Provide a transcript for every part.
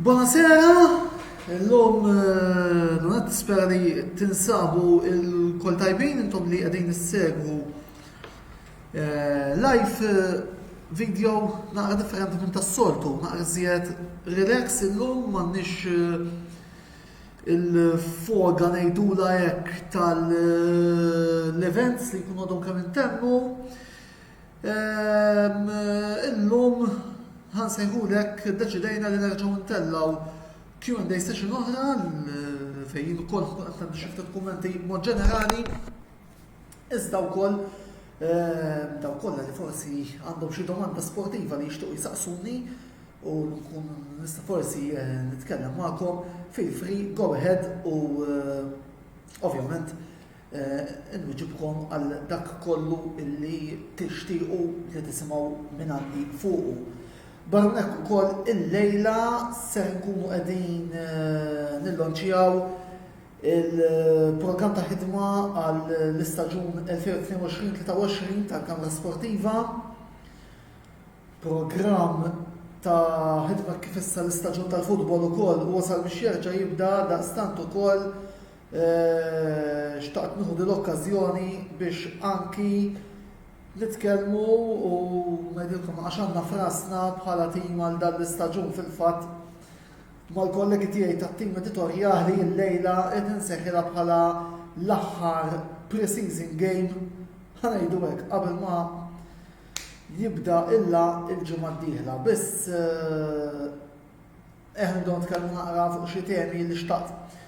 Bonasera! Illum Donat nispera li tinsabu lkoll tajbin intom li qegħdin issegwu live video naqra differenti minn tas-soltu, naqra iżjed relax illum m'għandniex il-foga ngħidulha hekk tal-events li jkunu għadhom kemm intemmu. Ehm, illum ħan sejħulek deċidejna li nerġgħu ntellgħu Q&A session oħra fejn ukoll ħkun qed nagħmlu xi ftit kummenti mod ġenerali. Iżda wkoll ehm, daw kollha li forsi għandhom xi domanda sportiva li jixtiequ jsaqsuni u nkun nista' forsi eh, nitkellem magħkom fil-free go ahead u eh, ovvjament Inwiġibkom għal dak kollu li tixtiequ li tisimgħu mingħandi fuqu. Barra minn hekk ukoll illejla se nkunu qegħdin nillonċjaw il-programm ta' ħidma għall-istaġun 2022-23 tal-Kamra Sportiva. Programm ta' ħidma kif issa l-istaġun tal-futbol ukoll wasal biex jerġa' jibda daqstant ukoll Xtaqt nieħu din l-okkażjoni biex anki nitkellmu u ngħidilkom għax għandna frasna bħala tim għal dan l-istaġun fil-fatt mal-kollegi tiegħi tat-tim editorjali l-lejla qed inseħħilha bħala l-aħħar pre-season game ħanejdu hekk qabel ma jibda illa il-ġimgħa d-dieħla. Biss eh, Eħna nibdew nitkellmu naqra fuq xi temi li xtaqt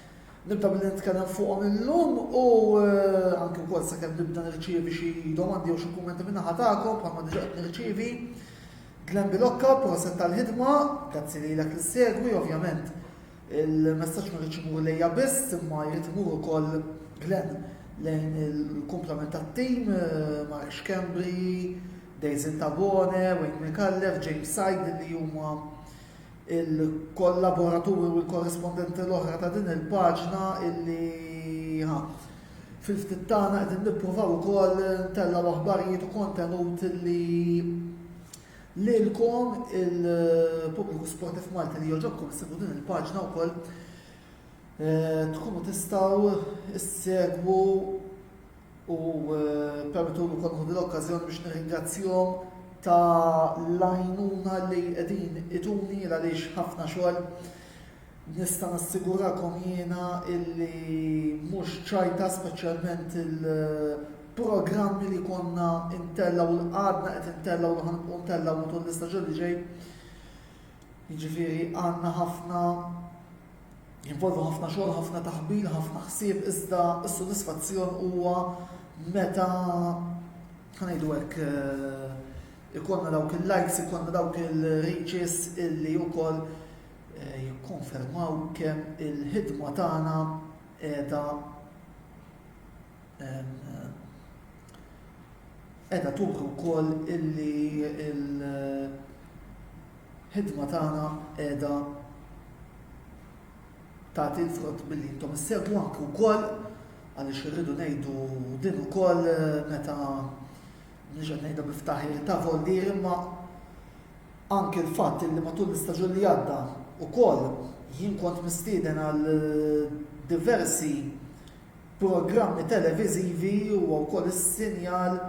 nibda billi nitkellem fuqhom illum u eh, anke wkoll sakemm nibda nirċievi xi domandi jew xi kummenti minn naħa tagħkom bħalma diġà qed nirċievi. Glenn Bilokka, proset tal-ħidma, grazzi lilek li segwi, ovvjament il-messaġġ ma rridx imur lejja biss imma jrid imur ukoll Glenn lejn il-komplement tat-tim, eh, Mark Schembri, Dejzin Tabone, Wayne McCallef, James Said li huma il-kollaboraturi u l-korrespondenti l-oħra ta' din il-paġna illi fil-ftit tagħna qegħdin nippruvaw ukoll ntellgħu aħbarijiet u kontenut li lilkom il-pubbliku sportif Malti li joġobkom sibu din il-paġna wkoll eh, tkunu tistgħu issegwu U permettuli wkoll nieħu din l-okkażjoni biex nirringrazzjhom ta' l-għajnuna li qegħdin ituni il għaliex ħafna xogħol nista' nassigurakom jiena illi mhux ċajta speċjalment il-programmi li konna intellgħu u l-qagħadna qed intellgħu u ħanqu ntellgħu matul l-istaġun li ġej. Jiġifieri għandna ħafna Jinvolvu ħafna xogħol, ħafna taħbil, ħafna ħsieb, iżda s-sodisfazzjon huwa meta ħanejdu hekk eh, ikonna dawk il-likes, ikonna dawk il-reaches illi wkoll eh, jikkonfermaw kemm il-ħidma tagħna qiegħda Qiegħda turi wkoll illi l-ħidma tagħna qiegħda tagħti l-frott billi intom issegwu anke wkoll għaliex irridu ngħidu din ukoll meta mhux qed ngħidha bi ftaħir ta' voldir imma anke l-fatt li matul l-istaġun li għadda wkoll jien kont mistieden għal diversi programmi televiżivi huwa wkoll is-sinjal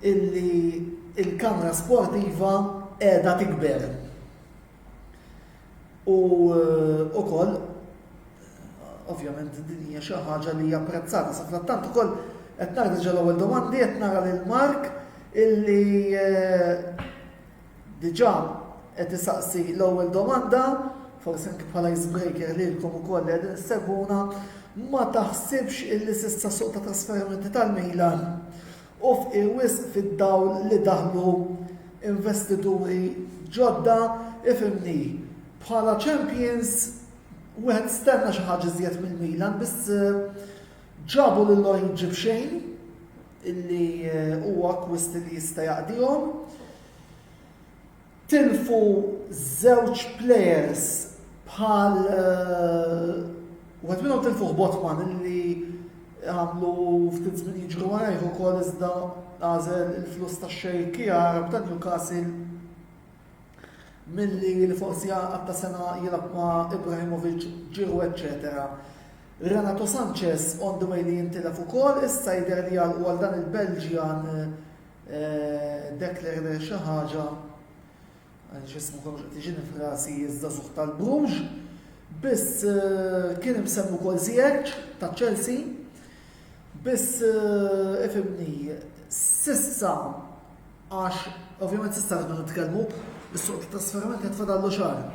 illi l-kamra sportiva qiegħda tikber. U wkoll ovvjament din hija xi ħaġa li hija apprezzata sa frattant ukoll qed nagħti ġol ewwel domandi qed nara lil Mark illi eh, Diġà qed isaqsi l-ewwel domanda, forsi anki bħala ice breaker lilkom ukoll li qegħdin issegwuna, ma taħsibx illi s'issa suq ta' trasferimenti tal-Milan hu fqir wisq fid-dawl li daħlu investituri ġodda? Ifhimni, bħala champions wieħed stenna xi ħaġa iżjed mill-Milan biss ġabu lil Origi b'xejn. illi huwa akkwist li jista' jaqdihom. Tilfu żewġ players bħal eh, wieħed minnhom tilfu Botman illi għamlu ftit żmien jiġru warajh ukoll iżda għażel il-flus tax-xejkija Arab ta' Newcastle Milli li forsi għaqad ta' sena jilgħab ma' Ibrahimovic, Giroud eċċetera. Renato Sanches on the way li jintilef ukoll, issa jidher li għalqu għal dan il-Belġjan Deklerder eh, xi ħaġa x'ismu kollox qed jiġini frasi iż-żagħżugħ tal-Bruges, biss eh, kien imsemmu kol Ziyech ta' Chelsea, biss eh, ifimni sissa Għax ovvjament s'issa rridu nitkellmu, is-suq tat-trasferiment qed fadallu xahar.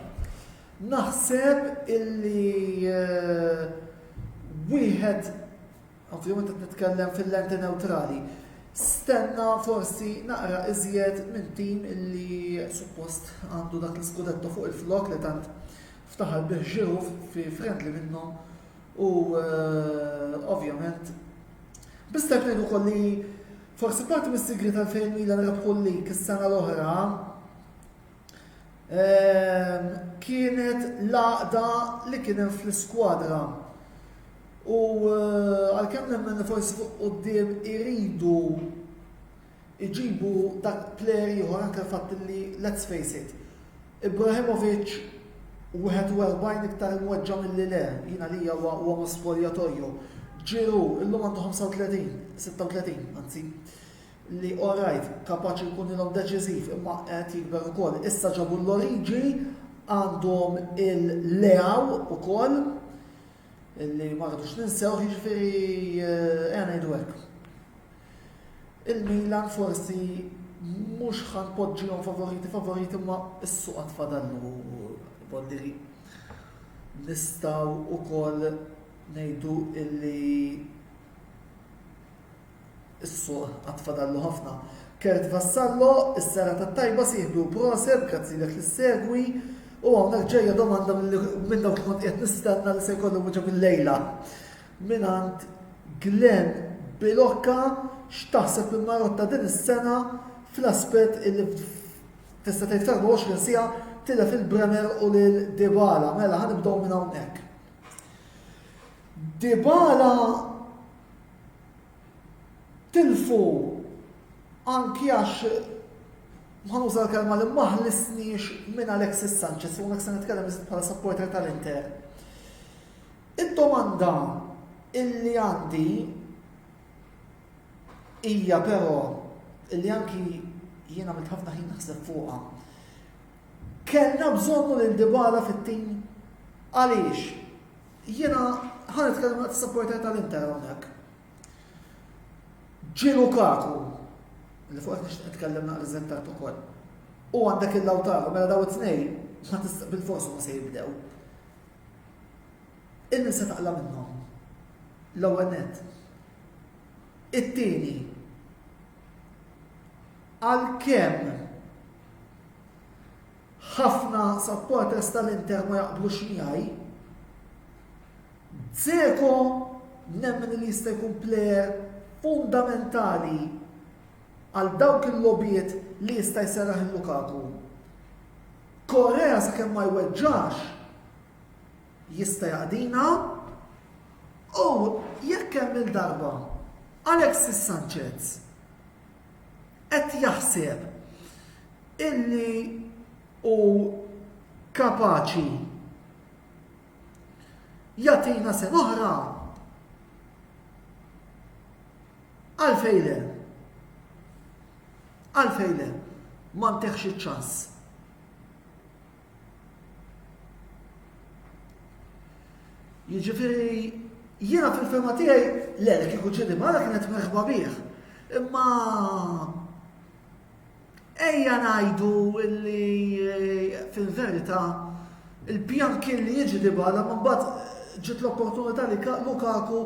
Naħseb illi eh, wieħed ovvjament qed nitkellem fil-lenti neutrali. Stenna forsi naqra iżjed minn tim illi suppost għandu dak l-iskudetto fuq il-flok li tant ftaħar bih fi friendly minnhom U eh, ovvjament, biss tajb ngħidu ukoll li forsi parti mis-sigri tal-fejn Milan rebħu l-lig is-sena l-oħra eh, kienet laqda li kien hemm fl-iskwadra. U eh, għalkemm nemmen forsi fuq quddiem iridu Iġibu dak plejer ieħor anke l-fatt li let's face it, Ibrahimovic 41 iktar imweġġa' milli le, jien għalija huwa uomo spogliatoio, Giroud illum għandu 35, 36 anzi, li orrajt, kapaċi jkun ilhom deċiżiv imma qed jikber ukoll. Issa ġabu l-Origi għandhom il-Leao ukoll. Illi ma rridux ninsewh jiġifieri ejja ngħidu hekk. Il-Milan forsi mhux ħa npoġġihom favoriti favoriti ma s-suq għad fadallu boddiri. Nistgħu wkoll ngħidu illi Is-suq għad fadallu ħafna. Kurt Vassallo, Is-sara tat-tajba sieħbu, proset, grazzilek li ssegwi, u hawnhekk ġejja domanda minn dawk li kont qiegħed nistenna li se jkollu wieġeb illejla. Mingħand Glenn Bilokka x'taħseb li Marotta din is-sena fl-aspett illi tista' tgħid fl-24 siegħa tilef il-Bremer u lil Dybala. Mela ħanibdew minn hawnhekk. Dybala tilfu anki għax ħa nuża l-kelma li ma ħlisniex minn Alexis Sanchez u hawnhekk se nitkellem iżjed bħala supporter tal-Inter. Id-domanda illi għandi hija però illi anki jien għamilt ħafna ħin naħseb fuqha. Kellna bżonnu lil Dybala fit-tim għaliex Jiena ħa nitkellem daqs is-supporter tal-Inter hawnhekk. Ġie Lukaku li fuq qed nitkellem naqra iżjed tard ukoll. U għandek il-Lautaro mela daw it-tnejn ma tista' bil-forsu ma se jibdew. Il-min se taqla minnhom. L-ewwel net. It-tieni għalkemm Ħafna supporters tal-Inter ma jaqblux miegħi. Dzeko nemmen li jista' jkun plejer fundamentali għal dawk il-logħbiet li jista' jserraħ il-Lukaku. Korea sakemm ma jweġġax jista' jaqdina u jekk hemm il-darba Alexis Sanchez qed jaħseb illi hu kapaċi jagħtina sena oħra, għalfejn le? Għalfejn le? Ma nteħx iċ-ċans. Jiġifieri jiena fil-fema tiegħi le li kieku ġieli mara kienet merħba bih. Imma ejja ngħidu li eh, fil-verità il-pjan kien li jiġi dibala ma mbagħad ġiet l-opportunità li Lukaku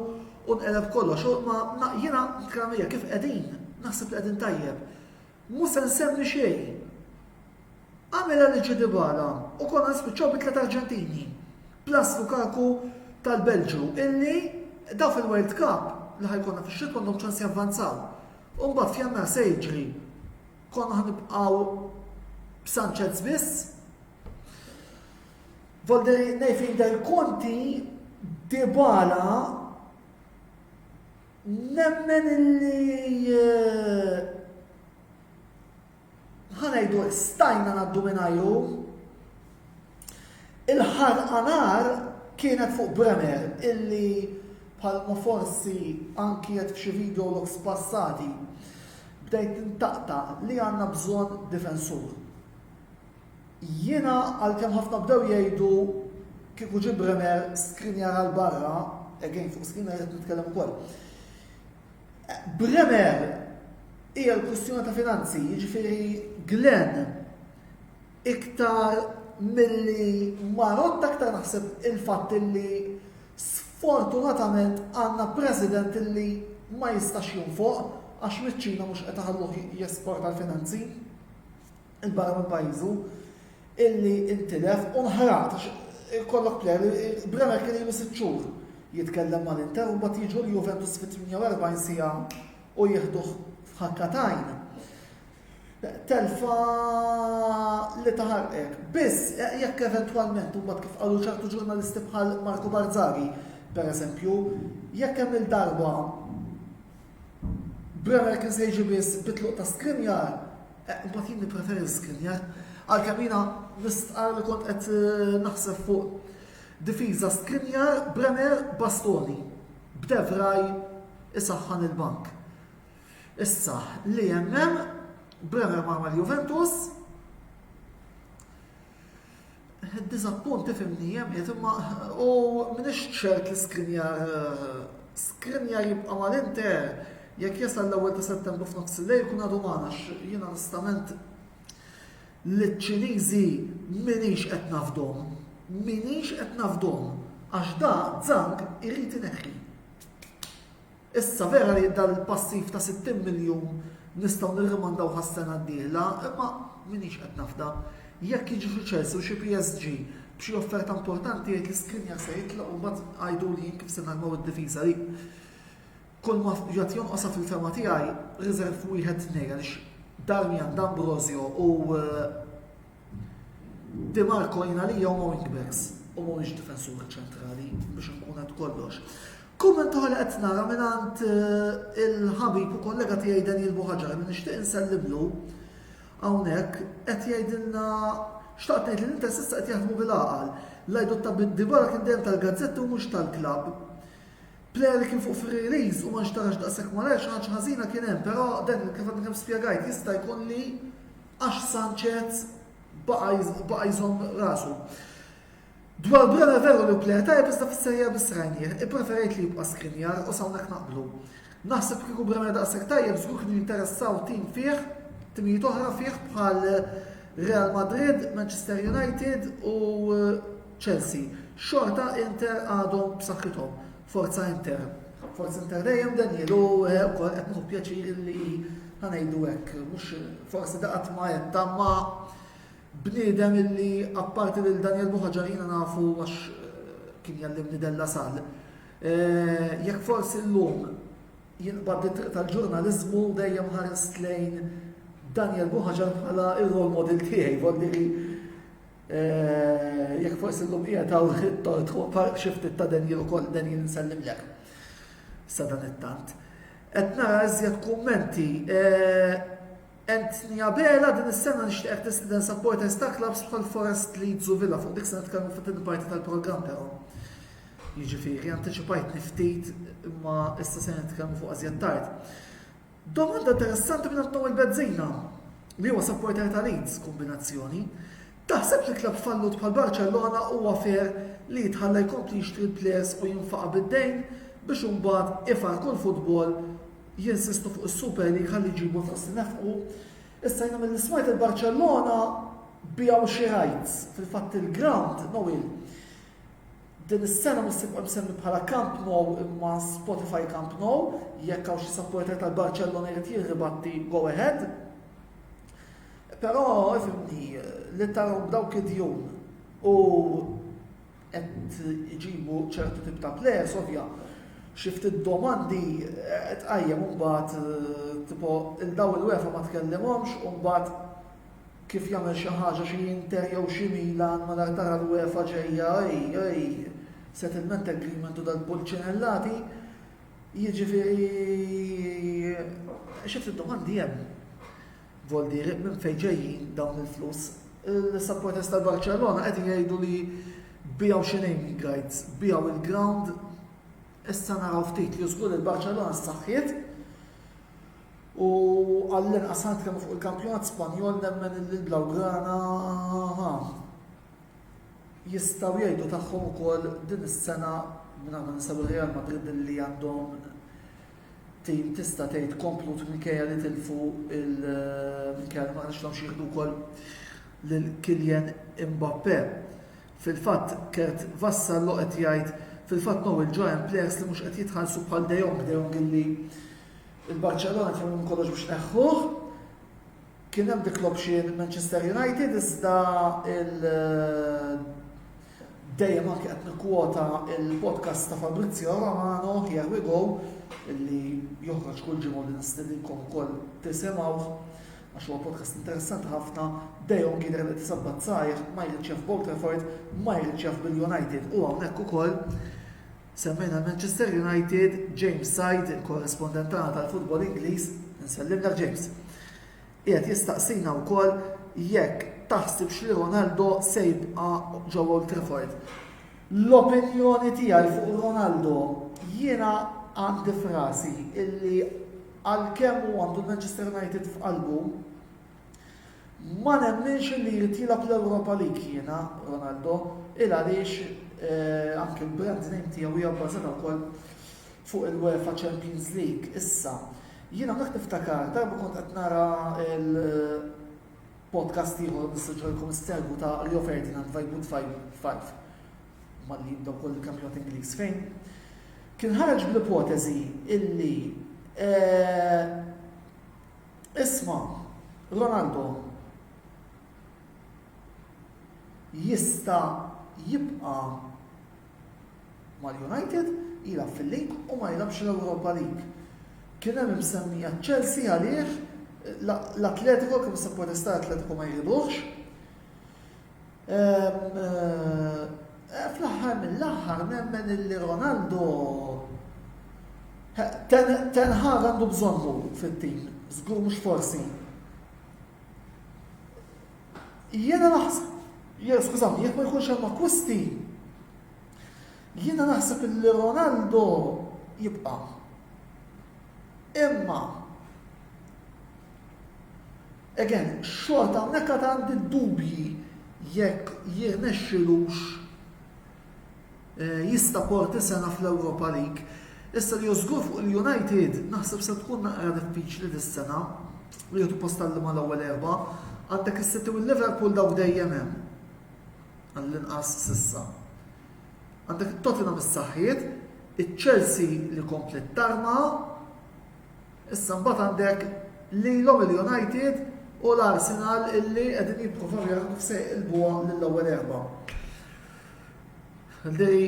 u nqeleb kollox. Ma jiena kramija kif qegħdin, naħseb li qegħdin tajjeb. Mhu se nsemmi xejn. Għamilha lil Ġudi Bala u konna nispiċċaw bi tliet Arġentini, plus Lukaku tal-Belġju, illi daw fil-World Cup li ħa jkollna fix-xitwa għandhom ċans javvanzaw. U mbagħad f'Jannar se jiġri? Konna ħa nibqgħu b'Sanchez biss? Volderi ngħid f'idher Conti, Dybala Nemmen illi ħa ngħidu stajna ngħaddu mingħajru. Il-ħarqa nar kienet fuq Bremer illi bħalma forsi anki qed f'xi video logs passati bdejt nintaqta' li għandna bżonn difensur. Jiena għalkemm ħafna bdew jgħidu kieku ġie Bremer skrinjar għal barra, again fuq skrinjar qed nitkellem ukoll. Bremer hija l-kwistjoni ta' finanzi, jiġifieri Glenn iktar milli marot aktar naħseb il-fatt li sfortunatament għandna president li ma jistax jinfoq għax miċ-Ċina mhux qed iħalluh jesporta l-finanzi. il barra minn pajjiżu illi intilef u nħaraq għax ikollok plejer li Bremer kien ilu sitt xhur jitkellem mal-Inter u mbagħad jiġu l-Juventus fi 48 siegħa u jieħduh f'ħakka t'għajn. Telfa li taħarqek. Biss eh, jekk eventwalment u kif qalu ċertu ġurnalisti bħal Marco Barzaghi, per eżempju, jekk hemm il-darba Bremer kien se jiġi biss bitluq ta' skrinjar, Imbagħad jien nippreferi l-iskinja, għalkemm jiena nistqarr li kont qed eh, naħseb fuq difiża skinja, Brenner, Bastoni, b'Devraj isaħħan il-bank. Issa, li jemmem, Brenner ma' Juventus, Id-diżappunt ifimmni hemm qiegħed imma u m'iniex ċert li Skriniar Skriniar jibqa' mal-Inter jekk jasal l-ewwel ta' Settembru f'nofs il-lejl jkun għadu magħna għax jien onestament liċ-Ċiniżi m'iniex qed nafdhom. M'iniex qed nafdhom għax da Zhang irid ineħħi. Issa, vera li dan il-passiv ta' 60 miljun nistgħu nirrimandawh għas-sena d-dieħla, imma m'iniex qed nafda. Jekk jiġi xi Chelsea u xi PSG b'xi offerta importanti jgħid li Skriniar se jitlaq u mbagħad għiduli jien kif se narmaw id-difiża li kulma jgħod jonqosha fil-fehma tiegħi riserv wieħed tnejn għaliex Darmian, D'Ambrosio u eh, Di Marco jien għalija huma wingbacks u mhuwiex difensuri ċentrali biex nkun qed kollox. Kumment oħra li qed nara mingħand eh, il-ħabib u kollega tiegħi Daniel Buħaġar li nixtieq insellimlu hawnhekk qed jgħidilna xtaqt ngħid li l-Inter s'issa qed jaħdmu bil-għaqal. Lajdu ta' dibara kien dejjem tal-gazzetti u mhux tal-klabb. Player li kien fuq fir-release u ma nxtarax daqshekk ma ħaġa ħażina kien hemm, però dan kif għadni kemm spjegajt jista' jkun li għax Sanchez baqa' jżomm rasu. Dwar Brona veru li pleja tajjeb iżda fis-serja biss rajnieh, ippreferejt li jibqa' Skriniar u s'hawnhekk naqblu. Naħseb kieku Brona daqshekk tajjeb żgur kienu jinteressaw tim fih, timijiet oħra fih bħal Real Madrid, Manchester United u Chelsea. Xorta Inter għadhom b'saħħithom. Forza Inter. Forza Inter dejjem Daniel u eh, wkoll qed nieħu pjaċir li ħanejdu hekk. Mhux forsi daqat ma qed tamma bniedem illi apparti lil Daniel Buħaġar jiena nafu għax eh, kien jallimni della sal. Eh, jekk forsi llum jinqbad it-triq tal-ġurnaliżmu dejjem ħarist lejn Daniel Buħaġar bħala il-rol model tiegħi, volli Jekk forsi llum qiegħed hawn it-tort fuq park xi ftit ta' denjin ukoll denjin insellimlek. Sa dan it-tant. Qed nara iżjed kummenti. Anthony Abela din is-sena nixtieqek tistieden supporters ta' clubs bħal Forest Leeds u Villa fuq dik se nitkellmu fit-tieni parti tal-programm però. Jiġifieri antiċipajtni ftit imma issa se nitkellmu fuq iżjed tard. Domanda interessanti minn Antoine Bezzina, li huwa supporter ta' Leeds, kombinazzjoni, Taħseb li club fallut bħal Barcellona huwa fair li jitħalla jkompli jixtri l-players u jinfaqa' bid-dejn biex imbagħad ifarrku l-football jinsistu fuq is-Super League ħalli jġibu l-flus li nefqu? Issa jiena milli smajt il-Barcellona biegħu xi rights, fil-fatt il-ground, Noel, Din is-sena mhux se jibqa' msemmi bħala Camp Nou imma Spotify Camp Nou, jekk hawn xi supporter tal-Barċellona jrid jien ribatti go ahead. Però ifhimni li tarhom b'dawk id-djun u qed iġibu ċertu tip ta' players ovvja xi ftit domandi eh, tqajjem imbagħad eh, tipo il daw il-wefa ma tkellimhomx u mbagħad Kif jagħmel xi ħaġa xi Inter jew xi Milan malar tara l-UEFA ġejja ej ej settlement agreement u dal-pulċinellati jiġifieri xi ftit domandi hemm. Voldieri minn fejn ġejjin dawn il-flus? Il-supporters tal-Barċellona qegħdin jgħidu li bijaw xi naming rights, bijaw il-ground Issa naraw ftit li żgur il-Barċellona ssaħħiet u għall-inqas ħa nitkellmu fuq il-kampjonat Spanjol nemmen li l-Blaugrana jistgħu jgħidu tagħhom ukoll din is-sena minn għandna nisabu Real Madrid li għandhom tim tista' tgħid komplut minkejja li tilfu il-minkejja ma nixtieqhomx jieħdu wkoll lil Kylian Mbappe. Fil-fatt, Kurt Vassallo qed jgħid, Fil-fatt Noel ġa hemm plejers li mhux qed jitħallsu bħal De Jong, De Jong illi l-Barċellona tagħmlu minn kollox biex tneħħuh. Kien hemm dik l-option Manchester United iżda il dejjem anke qed nikkwota il-podcast ta' Fabrizio Romano, Here We Go, li joħroġ kull ġimgħa li nistedinkom ukoll tisimgħuh. Għax huwa podcast interessanti ħafna, De Jong jidher li qed isabbat sajr, ma jridx jaf b'Old Trafford, ma jridx jaf bil-United u hawnhekk ukoll semmejna l-Manchester United, James Said, il-korrespondent tagħna tal-futbol Ingliż, insellilek James, qiegħed jistaqsina wkoll jekk taħsibx li Ronaldo se jibqa' ġewwa Old Trafford. L-opinjoni tiegħi fuq Ronaldo jiena għandi f'rasi illi Għalkemm hu għandu l-Manchester United f'qalbu, ma nemminx li jrid jilgħab l-Europa League jiena, Ronaldo, il għaliex eh, anke l-brand name tiegħu hija bbażata wkoll fuq il-UEFA Champions League. Issa, jiena dak niftakar darba kont qed nara l- podcast ieħor mis-Sinġorkom Stergu ta' Rio Ferdinand Vibe Five. Malli jibda wkoll il-kampjonat Ingliż fejn kien ħareġ bl-ipoteżi illi eh, isma' Ronaldo jista' jibqa' mal-United jilgħab fil-lig u ma jilgħabx l-Europa League. Kien hemm imsemmija Chelsea għalih l-Atletico kif se protesta Atletico ma jridux. Fl-aħħar mill-aħħar nemmen illi Ronaldo Ten Hag għandu bżonnu fit-tim, żgur mhux forsi. Jiena naħseb, jiena skużawni, jekk ma jkunx hemm akkwisti, jiena naħseb illi Ronaldo jibqa'. Imma Again, xorta hawnhekk għad għandi d-dubji jekk jirnexxilux jista' Porti sena fl-Europa League. Issa li hu żgur fuq li United naħseb se tkun naqra diffiċli dis-sena li jieħdu post għal liema l-ewwel erbgħa. Għandek is-City u l-Liverpool dawk dejjem hemm. Għall-inqas s'issa. Għandek it-Tottenham is-saħħiet, iċ-Chelsea li kompliet tarma, Issa mbagħad għandek lilhom il-United u l-Arsenal illi qegħdin jipprovaw jaraw kif se jqilbuha lill-ewwel erba'. Li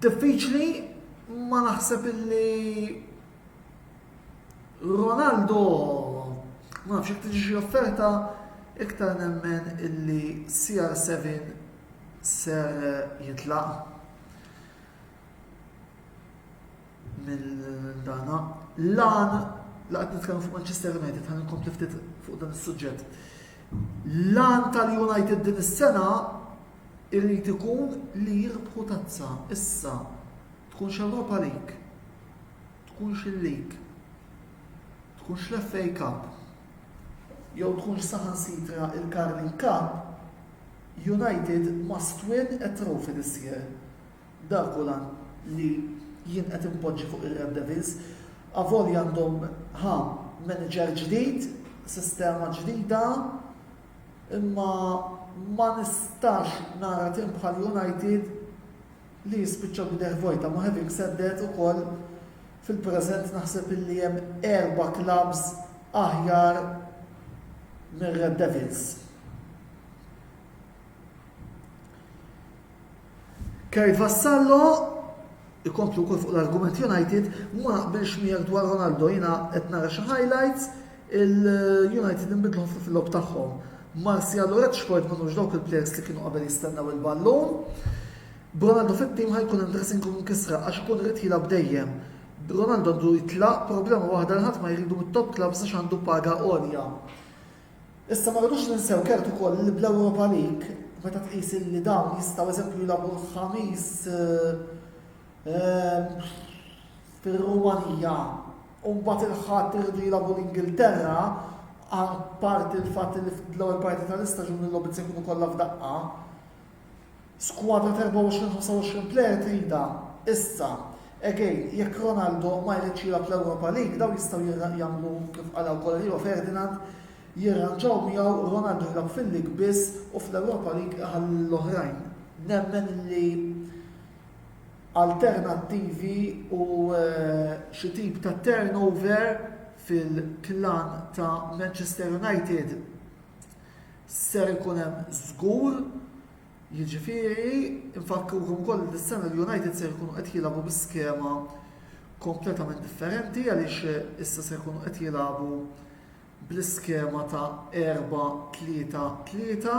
diffiċli ma naħseb illi Ronaldo ma nafx jekk tiġi offerta iktar nemmen illi CR7 ser jitlaq. mill-dana. L-għan, laqt nitkellmu fuq Manchester United, għan nkompli ftit fuq dan is-suġġett. L-għan tal-United din is-sena irrid ikun li jirbħu tazza issa tkunx Europa League, tkunx il-League, tkunx l-FA Cup, jew tkunx saħan sitra il-Carling Cup, United must win a trophy this year. Dak hu l-għan li jien qed inpoġġi fuq ir-Red Devils. Avolja għandhom, ha, manager ġdid, sistema ġdida, imma ma nistax nara tim bħal United li jispiċċa b'idejh vojta. Ma having said that ukoll fil-preżent naħseb illi hemm erba' clubs aħjar mir-Red Devils. Kurt Vassallo, Ikompli wkoll fuq l-argument United, ma naqbilx miegħek dwar Ronaldo, jiena qed nara xi highlights, il-United inbidlu ħafna fil-logħob tagħhom. Martial u Rashford ma nux dawk il-plejers li kienu qabel jistennew il-ballun. B'Ronaldo fit-tim ħajkun hemm daqsin kun kisra għax ikun irid jilgħab dejjem. Ronaldo għandu jitlaq problema waħda li ħadd ma jridu mit-top clubs għax għandu paga għolja. Issa ma rridux ninsew kert ukoll li bl-Europa League meta tqis li dawn jistgħu eżempju jilagħbu l-Ħamis ehm, fir-Rumanija u mbagħad il-Ħadd iridu jilagħbu l-Ingilterra parti l-fatt li fl-ewwel parti tal-istaġun il-logħbiet se jkunu kollha f'daqqa. Skwadra t'24, 25 plejer tridha issa. Again, jekk Ronaldo ma jridx jilgħab l-Europa League, dawn jistgħu jagħmlu kif qalha wkoll Rio Ferdinand, jirranġaw miegħu Ronaldo jilgħab fil-League biss u fl-Europa League iħalli lill-oħrajn. Nemmen li alternattivi u xi tip ta' turnover fil-klan ta' Manchester United Ser ikun hemm żgur, jiġifieri nfakrukom ukoll li dis-sena l-United ser ikunu qed jilagħbu bi skema kompletament differenti għaliex issa ser ikunu qed jilagħbu bl-iskema ta' erba' tlieta tlieta,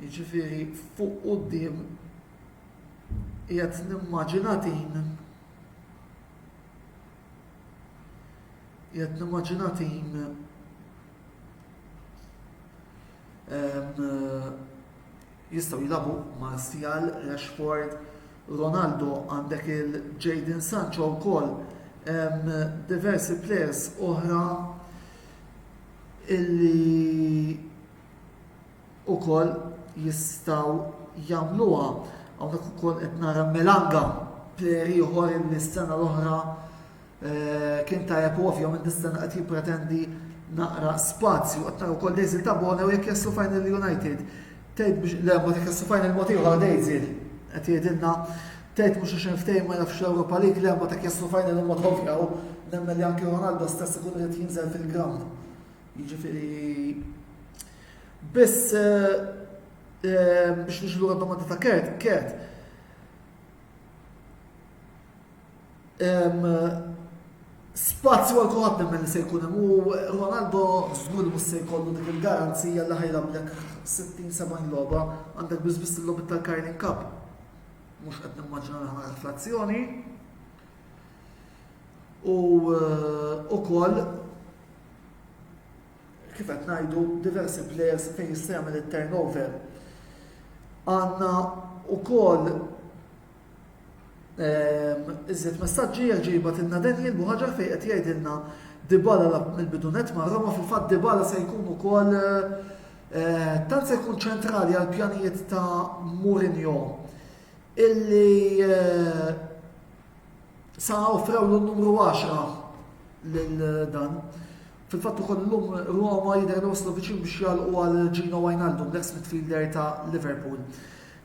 jiġifieri fuq quddiem qiegħed nimmaġina din qiegħed nimmaġina din Jistgħu jilabu Martial, Rashford, Ronaldo għandek il-Jadon Sancho wkoll diversi players oħra illi ukoll jistgħu jagħmluha. Hawnhekk ukoll qed nara Melanga player ieħor illi s-sena l-oħra Kien tajjeb u ovvjament nistenna qed jippretendi naqra spazju qed nara wkoll Daisy Tabone u jekk jaslu final United. Tgħid biex le ma dik jaslu final mod ieħor Daisy qed jgħidilna tgħid mhux għax ftehim ma jafx l-Ewropa League le ma dak jaslu final huma tovja u nemmen li anke Ronaldo stess ikun qed jinżel fil-ground. Jiġifieri biss eh, eh, biex nixlu domanda ta' Kert, Kert, Spazju għal kulħadd nemmen li se jkun hemm u Ronaldo żgur mhux se jkollu dik il-garanzija li ħajramlek 60-70 logħba għandek biss biss il-logħbi tal-Carling Cup. Mhux qed nimmaġina li ħana reflazzjoni. U wkoll eh, kif qed ngħidu diversi players fejn jista' jagħmel it-turnover. Għandna wkoll Ehm, iżjed messaġġi għal ġiba tilna Daniel Buħaġar fejn qed jgħidilna Dibala lab mill-bidunet ma' Roma fil-fatt Dibala se jkun ukoll eh, tant se jkun ċentrali għal pjanijiet ta' Mourinho illi eh, sa offrew l-numru 10 lil dan. Fil-fatt ukoll lum Roma jidher li waslu viċin biex jalqu għal Gino Wijnaldum, l-ex midfielder ta' Liverpool.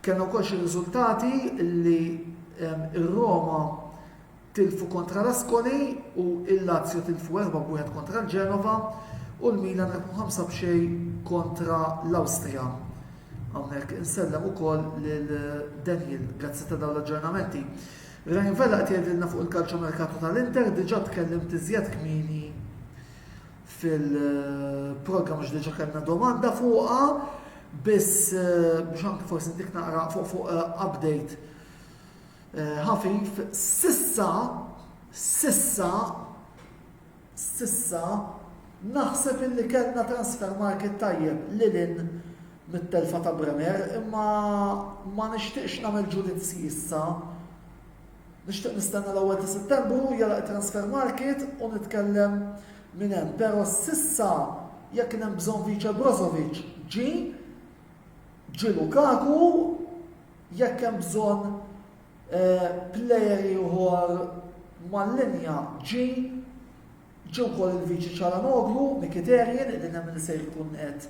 Kellna wkoll xi riżultati li r-Roma tilfu kontra l-Ascoli u l-Lazio tilfu 4 b'wieħed kontra l-Genova u l-Milan rebħu 5 b'xejn kontra l-Awstrija. Hawnhekk insellem ukoll lil Daniel, grazzi ta' dawn l-aġġornamenti. Ryan Vella qed jgħidilna fuq il-kalċomerkatu tal-Inter diġà tkellimt iżjed kmieni fil-programm għax diġa kellna domanda fuqha, biss eh, biex anke forsi dik naqra fuq fuq eh, update eh, ħafif, sissa, sissa, sissa, naħseb illi kellna transfer market tajjeb li lin mit-telfa ta' Bremer, imma ma nixtieqx nagħmel ġudizzji issa Nixtieq nistenna l-ewwel ta' Settembru jgħalaq it-transfer market u nitkellem minn hemm. Pero s'issa jekk kien hemm bżonn vice Brozovic ġie, ġie Lukaku, jekk hemm bżonn eh, player ieħor mal-linja ġie, Ġie wkoll il-Viċi Cialanoglu, Mkhitaryan li nemmen li se jkun qed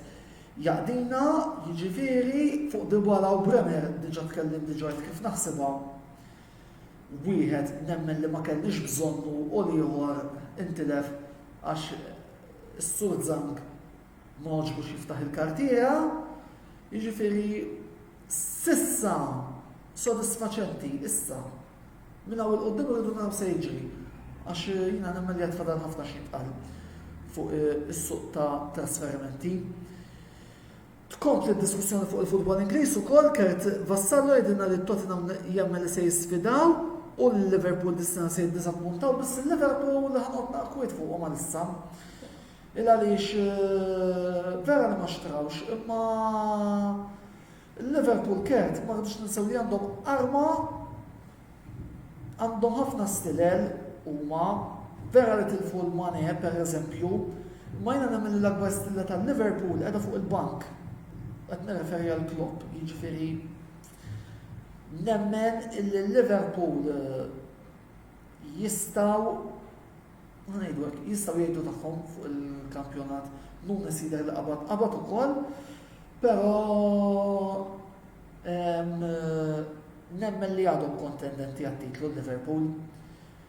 jaqdina, jiġifieri fuq Dybala u Bremer diġa' tkellimt diġa' għidt kif naħsibha. Wieħed nemmen li ma kellniex bżonnu u l-ieħor intilef għax is-Sur Zhang ma għoġbux jiftaħ il-kartiera. Jiġifieri s'issa sodisfaċenti issa. Minn hawn 'il quddiem irridu naraw se jiġri għax jiena nemmen li għad fadal ħafna xi jintqal fuq is-suq ta' trasferimenti. Tkompli d-diskussjoni fuq il-futbol Ingliż ukoll Kurt Vassallo jgħidilna li Tottenham jemmen li se jisfidaw u li Liverpool dis-sena se jiddiżappuntaw biss il-Liverpool li ħanqod naqkwit fuqhom għalissa. Il għaliex eh, vera li ma xtrawx imma Il-Liverpool Cat ma rridux ninsew li għandhom arma, għandhom ħafna stilel huma, vera li tilfu lil Mane per eżempju, imma jiena nemmen li l-akbar stilla ta' Liverpool qiegħda fuq il-bank, qed nirreferi għal Klopp, jiġifieri nemmen illi Liverpool jistgħu Ħa ngħidu hekk, jistgħu jgħidu tagħhom fuq il-kampjonat, Nunes jidher li qabad, qabad ukoll, però nemmen li għadhom kontendenti għat-titlu Liverpool.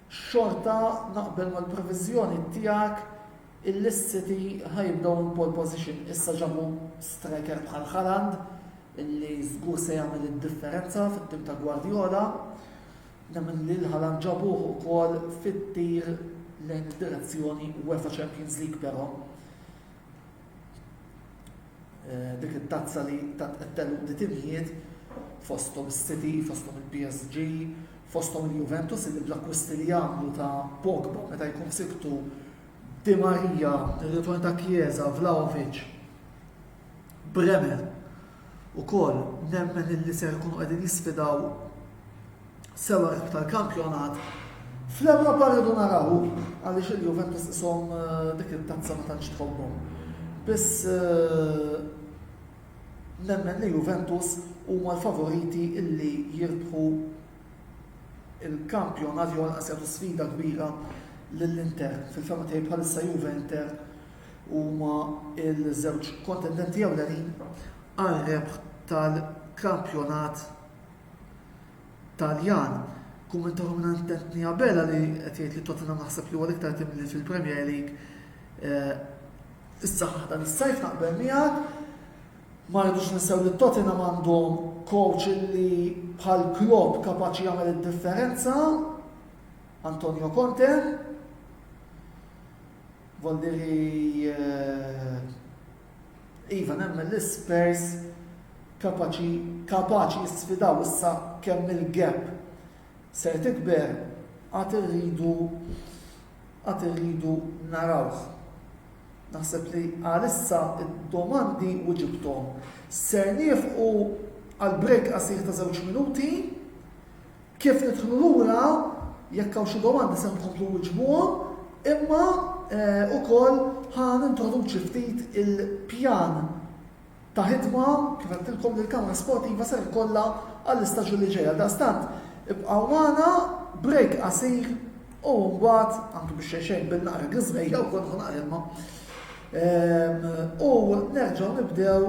Xorta naqbel mal-previżjoni tiegħek il-City ħajibdew in pole position issa ġabu striker bħal Haaland illi żgur se jagħmel id-differenza fit-tim ta' Guardiola. Nemmen li l-ħalan ġabuh ukoll fit-tir lejn id-direzzjoni UEFA Champions League però eh, dik it-tazza li tat qed di timijiet fosthom is-City, fosthom il-PSG, fosthom il-Juventus li bl-akkwisti li jagħmlu ta' Pogba meta jkun siktu Di Maria, il-ritorn ta' Chiesa, Vlaovic, Bremer, Ukoll nemmen illi ser ikunu qegħdin jisfidaw sewwa l-ħbib tal-kampjonat. Fl-Ewropa rridu naraw għaliex il-Juventus ishom dik it-tazza ma tantx tħobbhom. Biss nemmen li Juventus huma l-favoriti illi jirbħu il-kampjonat jew għalqas jagħtu sfida kbira lill-Inter. Fil-fehma tiegħi bħalissa Juve-Inter Huma ż-żewġ kontendenti ewlenin għar-rebħ tal-kampjonat Taljan. Kummentatu minn Anthony Abela li qed jgħid li Tottenham naħseb li huwa l-iktar tim li fil-Premier League issaħħaħ dan is-sajf naqbel miegħek. Ma rridux ninsew li Tottenham għandhom coach li bħal Klopp kapaċi jagħmel id-differenza, Antonio Conte. Voldiri Iva nemmen li Spurs kapaċi kapaċi jisfidaw issa kemm il-gap ser tikber għad irridu għad irridu narawh. Naħseb li għalissa d-domandi wiġibthom. Ser nieħu għal break qasir ta' żewġ minuti. Kif nidħlu lura, jekk hawn xi domandi se nkomplu nwiġbuhom, imma ukoll ħa nintroduċi ftit il-pjan ta' ħidma, kif għedtilkom, li l-Kamra Sportiva ser ikollha għall-istaġun li ġej. Għaldaqstant, ibqgħu magħna, break qasir u mbagħad, anke biex xejn xejn bil naqra griżmejja wkoll ħa naqra ilma, u nerġgħu nibdew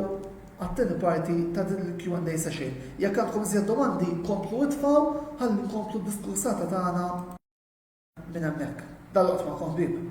għat-tieni parti ta' din il-Q and A session. Jekk għandkom iżjed domandi, komplu itfgħu ħalli nkomplu d-diskursata tagħna minn hemmhekk. Dal-waqt magħkom ħbieb.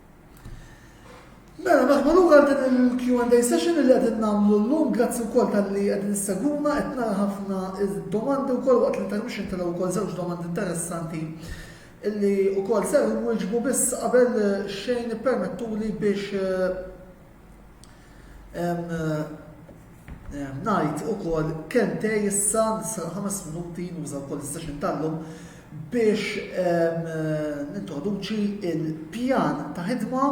Mela, naħma lura din il-Q&A session li qegħdin nagħmlu llum, grazzi wkoll tal-li qegħdin seguna, qed nara ħafna domandi wkoll waqt l-intermission tara wkoll żewġ domandi interessanti illi wkoll ser wieġbu biss qabel xejn permettuli biex eh, Ngħid ukoll kemm tej issa nisal ħames minuti nuża wkoll is-session tal-lum biex nintroduċi il-pjan ta' ħidma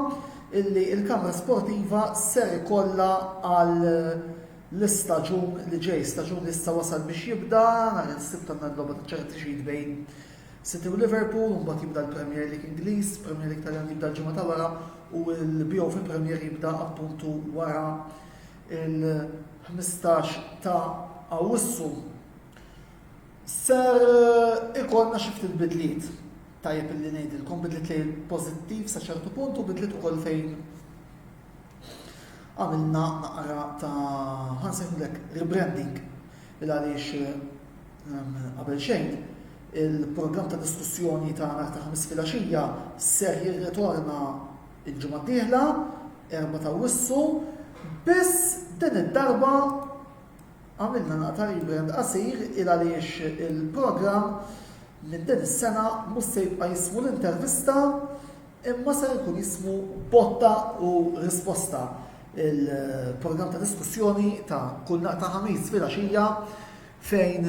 illi il-Kamra Sportiva ser ikollha għal l-istaġun li ġej, staġun li issa wasal biex jibda, nhar il-Sibt għandna l-logħba ta' ċarity bejn City u Liverpool, imbagħad jibda l-Premier League Ingliż, Premier League Taljan jibda l-ġimgħa ta' wara u l-BO fil-Premier jibda appuntu wara il-15 ta' Awwissu. Ser ikollna xi ftit bidliet tajjeb illi ngħidilkom bidliet li pożittiv sa ċertu punt u bidliet ukoll fejn għamilna naqra ta' ħansejħulek rebranding il għaliex Qabel xejn, il-programm ta' diskussjoni tagħna ta' ħamis filgħaxija ser jirritorna l-ġimgħa d-dieħla, erbgħa ta' Awwissu, biss din id-darba għamilna naqta' rebrand qasir il għaliex il-programm minn din is-sena mhux se jibqa' jismu l-intervista imma ser ikun jismu botta u risposta, il-programm ta' diskussjoni ta' kull naqta' ħamis filgħaxija fejn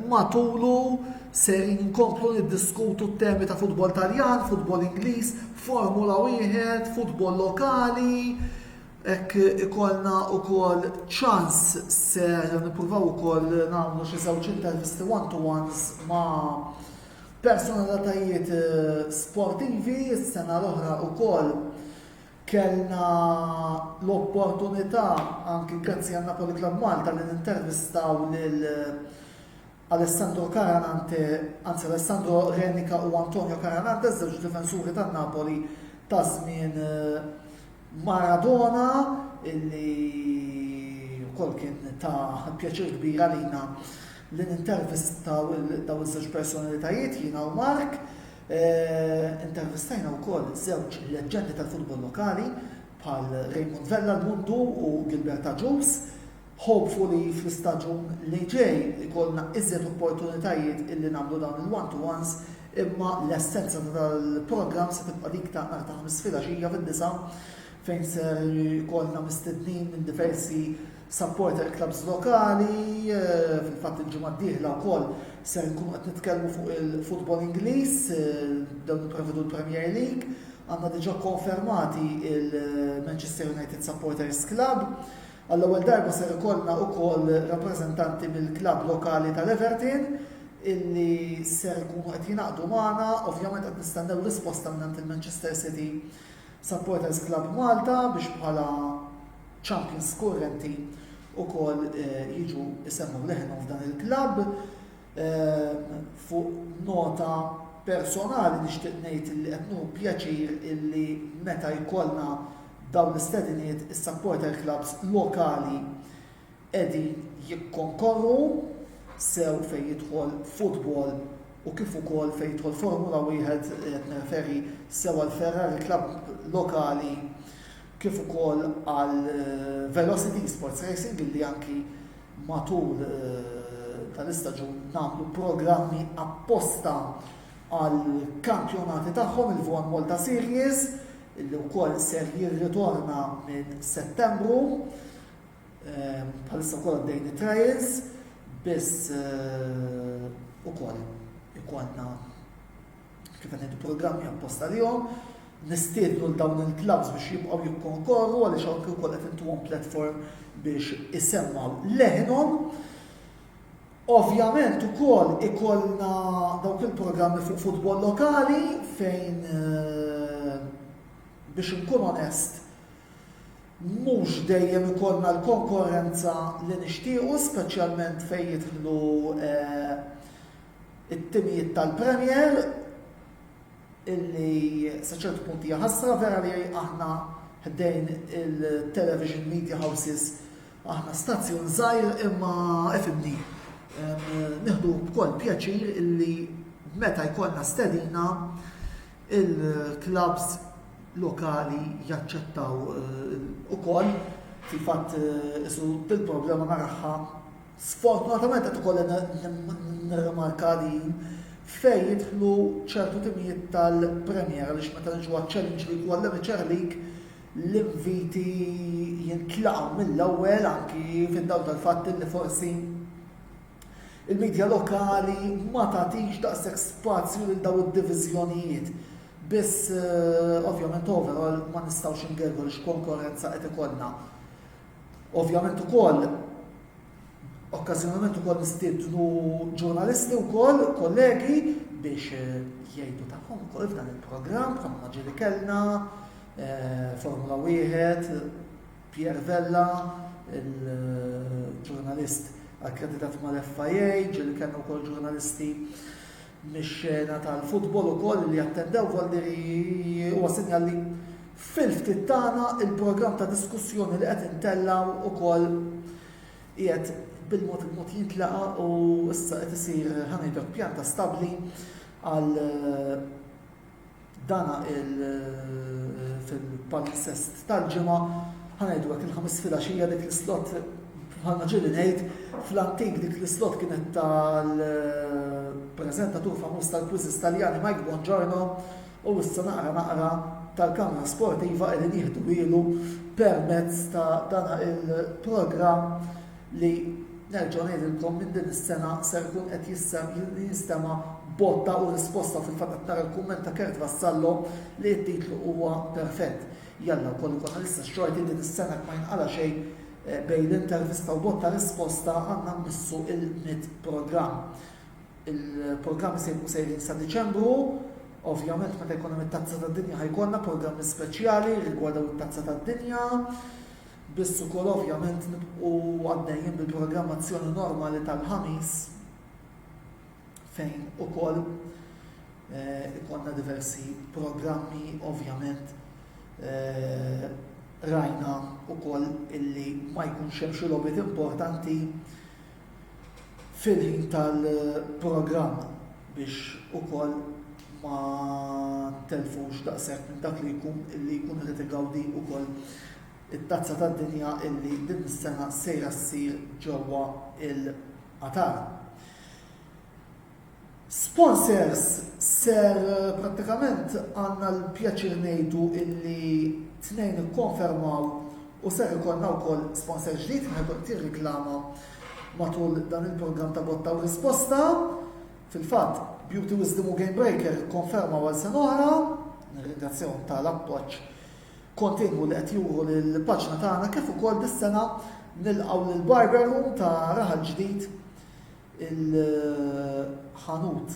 matulu ser inkomplu niddiskutu t-temi ta' futbol Taljan, futbol Ingliż, Formula wieħed, futbol lokali, hekk ikollna wkoll ċans ser nippruvaw ukoll nagħmlu xi żewġ intervisti one to ones ma' personalitajiet eh, sportivi, s-sena l-oħra wkoll Kellna l-opportunità, anki grazzi għal Napoli Club Malta, li nintervistaw lil Alessandro Caranante, anzi Alessandro Renica u Antonio Caranante, żewġ difensuri tan-Napoli ta' żmien Maradona, illi wkoll kien ta' pjaċir kbir għalina li nintervistaw dawn iż-żewġ personalitajiet jiena u Mark. Intervistajna wkoll żewġ leġġendi tal-futbol lokali bħal Raymond Vella l-Mundu u Gilbert Agius. Hopefully fl-istaġun li ġej ikollna iżjed opportunitajiet illi nagħmlu dawn il-one to ones imma l-essenza ta' dan il-programm se tibqa' dik ta' nhar ta' Ħamis filgħaxija fid-disgħa fejn ser ikollna mistednin minn diversi Supporter Clubs lokali, fil-fatt il-ġimgħa d-dieħla wkoll ser nkunu qed nitkellmu fuq il-futbol Ingliż, dawn jipprevedu l-Premier League. Għandna diġà konfermati il-Manchester United Supporters Club. Għall-ewwel darba ser ikollna wkoll rappreżentanti mill-klabb lokali tal-Everton illi ser ikunu qed jingħaqdu magħna, ovvjament qed nistennew risposta mingħand il-Manchester City Supporters Club Malta biex bħala Champions kurrenti wkoll jiġu jsemmu leħinhom f'dan il-klabb. Fuq nota personali nixtieq ngħid li qed nieħu pjaċir illi meta jkollna dawn l-istediniet is-supporter clubs lokali qegħdin jikkonkorru sew fejn jidħol futbol u kif ukoll fejn jidħol Formula Wieħed qed nirreferi sew għall-Ferrari Club lokali kif ukoll għal Velocity Esports Racing illi anki matul tal-istaġun nagħmlu programmi apposta għal kampjonati tagħhom il-F1 Malta Series illi wkoll ser jirritorna minn Settembru. Bħalissa wkoll għaddejn it-trials biss ukoll ikollna kif qed ngħidu programmi apposta lihom, nistiednu l dawn il-klabbs biex jibqgħu jikkonkorru għaliex hawn kif ukoll qed intuhom platform biex isemmgħu leħinhom. Ovvjament ukoll ikollna dawk il-programmi fuq futbol lokali fejn eh, biex nkun onest mhux dejjem ikollna l-konkurrenza li nixtiequ, speċjalment fejn jidħlu eh, it-timijiet tal-Premier illi sa ċertu punt hija ħasra vera li aħna ħdejn il-television media houses aħna stazzjon żgħir imma ifimni. Nieħdu b'koll pjaċir illi meta jkollna stedina il-klabs lokali jaċċettaw eh, ukoll fil-fatt eh, isu dil-problema naraħħa Sfortunatament qed ukoll nirrimarka li fejn jidħlu ċertu timijiet tal-Premier għaliex meta niġu għaċ-Challenge League u għall-Amateur League l-inviti jintlaqgħu mill-ewwel anki fid-dawl tal-fatt li forsi il-midja lokali ma tagħtix daqshekk spazju lil dawn id-diviżjonijiet. Biss eh, ovvjament overall ma nistgħux ingerru l-konkurrenza qed ikollna. Ovvjament ukoll okkażjonalment ukoll nistiednu ġurnalisti wkoll kollegi biex eh, jgħidu tagħhom ukoll f'dan il-programm bħalma ġieli kellna eh, Formula Wieħed, Pierre Vella, il-ġurnalist akkreditat mal-FIA, ġieli kellna wkoll ġurnalisti mix-xena tal-futbol ukoll li attendew Voldiriji huwa sinjal li fil-ftit tagħna l-programm ta' diskussjoni li qed intellgħu ukoll qiegħed bil-mod il-mod jintlaqa' u issa qed isir ħa ngħidlek pjanta stabbli għal Dan fil-palinsest tal-ġimgħa ħa ngħidu hekk il-ħamis filgħaxija dik l-islot bħalma ġieli ngħid fl-antik dik l-islot kienet tal-preżentatur famuż tal-quizzes Taljani Mike Bongiorno u issa naqra naqra tal-kamra sportiva qegħdin jieħdu ilu permezz ta' dan il-programm li nerġa' ngħidilkom minn din is-sena ser ikun qed jinstema' botta u risposta fil-fatt qed nara l-kumment ta' Kurt Vassallo li t-titlu huwa perfett. Jalla wkoll ikollna l-istess xorti din is-sena jekk ma jinqala' xejn eh, bejn l-intervista u botta risposta għandna mmissu il-mit programm. Il-programmi se jkunu sejrin sa Diċembru, ovvjament meta jkun hemm it-tazza tad-dinja ħajkollna programmi speċjali rigwardaw it-tazza tad-dinja. Biss ukoll ovvjament nibqgħu għaddejjin bil-programmazzjoni normali tal-Ħamis fejn ukoll ikollna diversi programmi ovvjament rajna ukoll illi ma jkunx hemm xi logħbiet importanti fil-ħin tal-programm biex ukoll ma ntellfux daqshekk minn dak li jkun li jkunu qed igawdi ukoll it-Tazza tad-Dinja illi din is-sena sejra ssir ġewwa l-Qatar. Sponsors ser prattikament għandna l-pjaċir ngħidu illi tnejn ikkonfermaw u ser ikollna wkoll sponsor ġdid li ħa jkun qed jirriklama matul dan il-programm ta' Botta u Risposta. Fil-fatt, Beauty Wisdom u Game Breaker ikkonfermaw għal sena oħra. Nirringrazzjahom ta' l-appoġġ kontinwu li qed juru lill-paġna tagħna kif ukoll dis-sena nilqgħu lill-Barber Room ta' Raħal Ġdid il-ħanut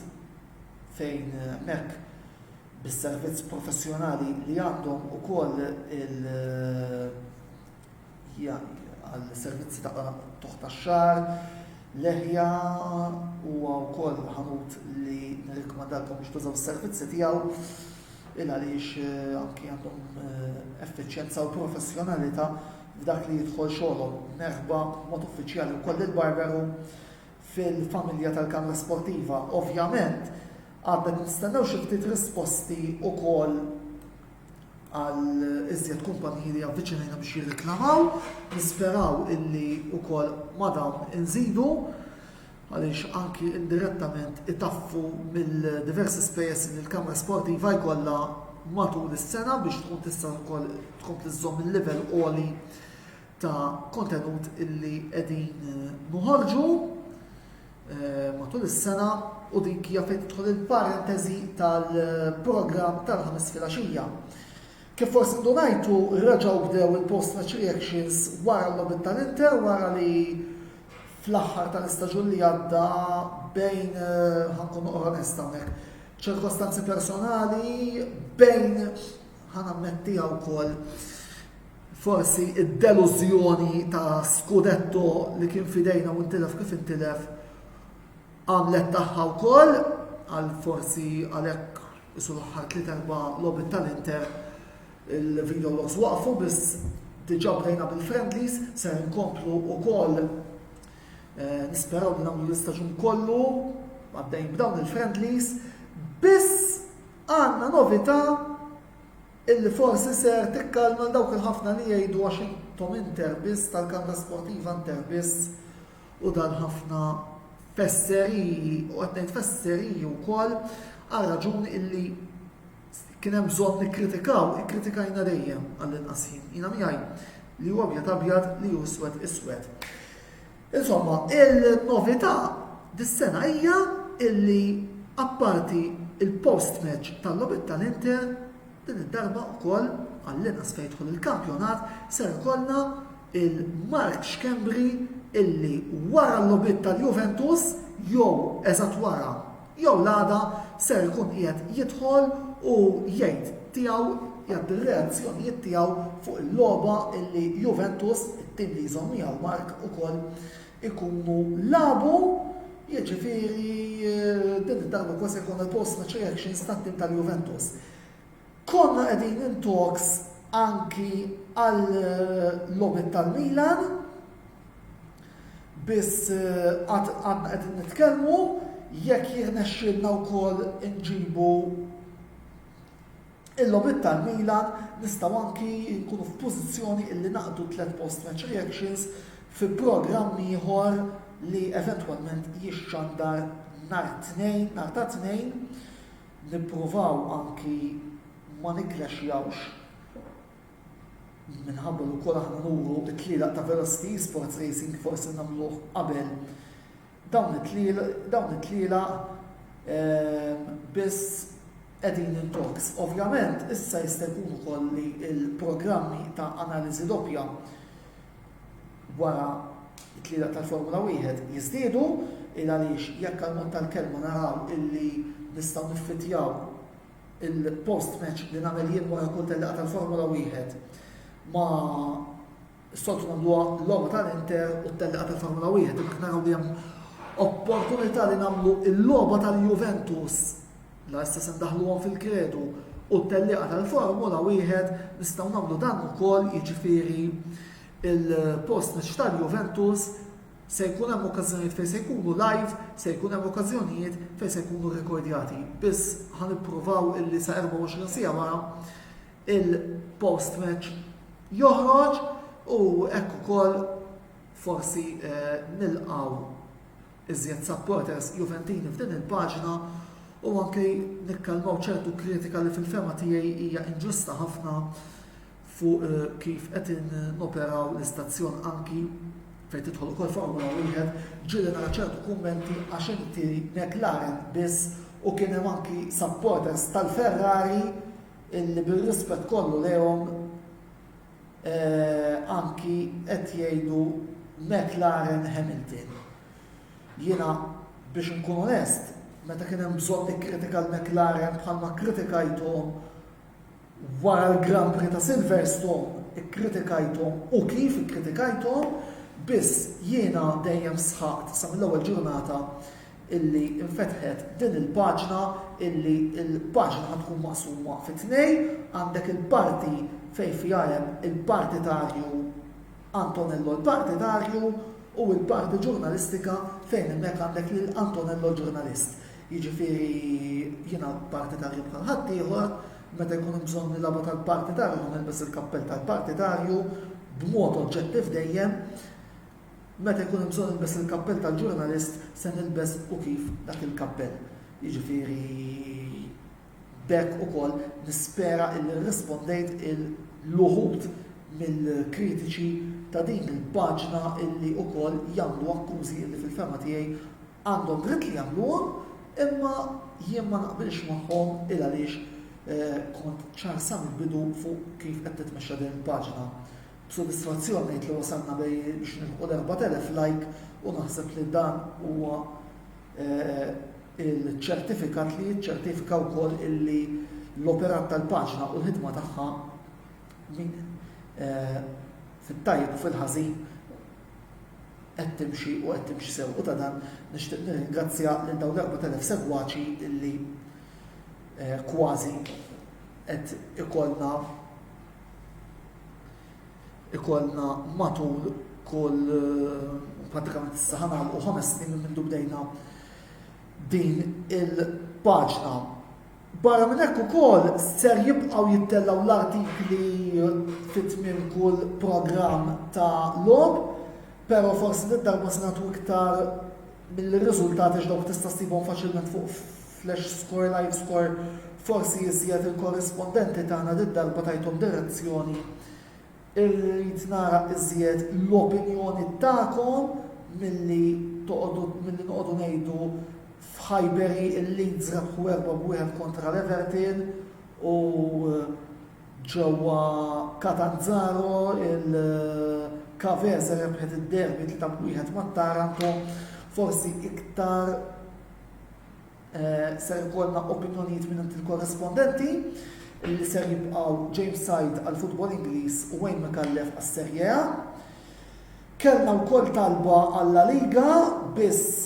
fejn mec bis-servizz professjonali li għandhom ukoll il għall-servizzi ta' tuħ tax-xagħar, leħja huwa wkoll ħanut li nirrikmandalkom biex tużaw is-servizzi tiegħu il għaliex anki għandhom effiċjenza u professjonalità f'dak li jidħol xogħolhom, merħba b'mod uffiċjali wkoll lil Barberu fil-familja tal-Kamra Sportiva. Ovvjament, għadna qed nistennew xi ftit risposti wkoll għal iżjed kumpaniji li avviċinajna biex jirriklamaw, nisperaw illi wkoll ma' dawn inżidu. għaliex anki indirettament itaffu mill-diversi spejjeż li l-Kamra Sportiva jkollha matul is-sena biex tkun tista' wkoll tkompli żżomm il-livell għoli ta' kontenut illi qegħdin noħorġu eh, matul is-sena u dik hija fejn tidħol il-parentesi tal-programm tal-ħames filgħaxija. Kif forsi ndunajtu raġaw bdew il-post match reactions wara l-logħbiet tal-Inter wara li fl-aħħar tal-istaġun li għadda bejn, ħankun noqgħod onest hawnhekk, ċirkostanzi personali bejn ħanammettiha wkoll forsi id-delużjoni ta' Scudetto li kien fidejna u ntilef kif intilef għamlet tagħha wkoll għal forsi għalhekk isu l-aħħar tliet erba' logħbiet tal-Inter Il-video logs waqfu biss diġa bdejna bil-friendlies ser inkomplu ukoll nisperaw li nagħmlu l-istaġun kollu għaddejn b'dawn il-friendlies biss għandna novità illi forsi ser tikkalma dawk il-ħafna li jgħidu għax intom inter biss tal-kanda sportiva inter biss u dan ħafna fesseriji u qed ngħid fesseriji wkoll għal raġuni illi Jekk kien hemm bżonn nikkritikaw, ikkritikajna dejjem, għall-inqas jien. Jiena miegħi li hu abjad abjad, li hu iswed iswed. Insomma, il-novità dis-sena hija illi apparti il-post-match tal-logħbiet tal-Inter, din id-darba wkoll, għall-inqas fejn jidħol il-kampjonat, ser ikollna lil Mark Schembri illi wara l-logħbiet tal-Juventus, jew eżatt wara, jew l-għada ser ikun qiegħed jidħol u jgħid tiegħu, jgħaddi r-reazzjonijiet tiegħu fuq il-logħba illi Juventus, it-tim li jżomm miegħu Mark ukoll, ikunu lagħbu, jiġifieri din id-darba ukoll se jkollna l-post-match reactions tat-tim tal-Juventus. Konna qegħdin in talks anki għal logħbiet tal-Milan, Biss għad għadna qegħdin nitkellmu jekk jirnexxielna wkoll inġibu il-logħbiet tal-Milan nistgħu anki nkunu f'pożizzjoni illi naqdu tliet post-match reactions fi programm ieħor li eventwalment jixxandar nhar it-Tnejn, nhar ta' Tnejn, nippruvaw anki ma nikklasjawx Min ħabbel ukoll aħna nuru t-tlielaq ta' Velocity Esports Racing forsi nagħmluh qabel dawn it-tlielaq biss qegħdin in talks. Ovvjament issa jista' jkun ukoll li l-programmi ta' analiżi doppja wara t-tlielaq tal-Formula Wieħed jiżdiedu il għaliex jekk għall-mod tal-kelma naraw illi nistgħu niffittjaw Il-post match li nagħmel jien wara kull tellieqa tal-Formula Wieħed ma s-soltu nagħmluha l-logħba tal-Inter u t-tellieqa tal-Formula Wieħed imma naraw li hemm opportunità li nagħmlu l-logħba tal-Juventus la issa se ndaħluhom fil-kredu u t-tellieqa tal-Formula Wieħed nistgħu nagħmlu dan ukoll jiġifieri il-post match tal-Juventus Se jkun hemm okkażjonijiet fejn se jkunu live, se jkun hemm okkażjonijiet fejn se jkunu rrekordjati, biss ħa nippruvaw illi sa 24 siegħa wara il-post match joħroġ u hekk ukoll forsi eh, nilqgħu iżjed supporters Juventini f'din il-paġna u anke nikkalmaw ċertu kritika li fil-fema tiegħi hija inġusta ħafna fuq kif qed noperaw l-istazzjon anki, fejn tidħol ukoll Formula Wieħed, ġieli nara ċertu kummenti għax inti McLaren biss u kien hemm anki supporters tal-Ferrari illi bir-rispett kollu lejhom anki qed jgħidu McLaren Hamilton. Jiena biex inkun onest, meta kien hemm bżonn nikkritika l-McLaren bħalma kkritikajthom Wara l-Grand Prix ta' Silverstone ikkritikajthom u kif ikkritikajthom, biss jiena dejjem sħaqt sa mill-ewwel ġurnata illi infetħet din il-paġna illi l-paġna ħa tkun maqsuma fi tnejn, għandek il-parti fejn fiha hemm il-partitarju Antonello l-partitarju u l-parti ġurnalistika fejn hemmhekk għandek lil Antonello l-ġurnalist. Jiġifieri jiena partitarju bħal ħaddieħor, meta jkun hemm bżonn nilagħbu tal-partitarju ħa nilbes il-kappell tal-partitarju b'mod oġġettiv dejjem, meta jkun hemm bżonn nilbes il-kappell tal-ġurnalist se nilbes u kif dak il-kappell. Jiġifieri B'hekk ukoll nispera illi rrispondejt il-uħud mill-kritiċi ta' din il-paġna illi ukoll jagħmlu akkużi illi fil-fehma tiegħi għandhom dritt li jagħmluhom imma jien ma naqbilx magħhom il-għaliex kont ċar sa mill-bidu fuq kif qed titmexxa din il-paġna. B'sodisfazzjon ngħid li wasalna biex nilħqu l-4,000 like u naħseb li dan huwa il-ċertifikat li jiċċertifika wkoll illi l-operat tal-paġna u l-ħidma tagħha eh, fit-tajb u fil-ħażin qed timxi u qed timxi sew u ta' dan nixtieq nirringrazzja lil dawn l-4000 segwaċi illi eh, kważi qed ikollna ikollna matul kull prattikament issa ħanagħlqu ħames snin minn mindu bdejna din il-paġna. Barra minn hekk ukoll ser jibqgħu jittellgħu l-artikli fit minn kull programm ta' log, però forsi darba se nagħtu iktar mill-riżultati x'dawk tista' ssibhom faċilment fuq Slash score live score Forsi iżjed il-korrispondenti tagħna did-darba tajthom direzzjoni. Irrid nara iżjed l-opinjoni tagħkom milli toqgħodu milli noqogħdu ngħidu f'Highbury il-Leeds rebħu erba' b'wieħed kontra l-Everton u ġewwa Catanzaro il-Cavese rebħet id-derby tlieta b'wieħed mat-Taranto. Forsi iktar Ser ikollna opinjonijiet mingħand il-korrespondenti li ser jibqgħu James Said għall-futbol Ingliż u Wayne Micallef għas-Serie A. Kellna wkoll talba għall-La Liga biss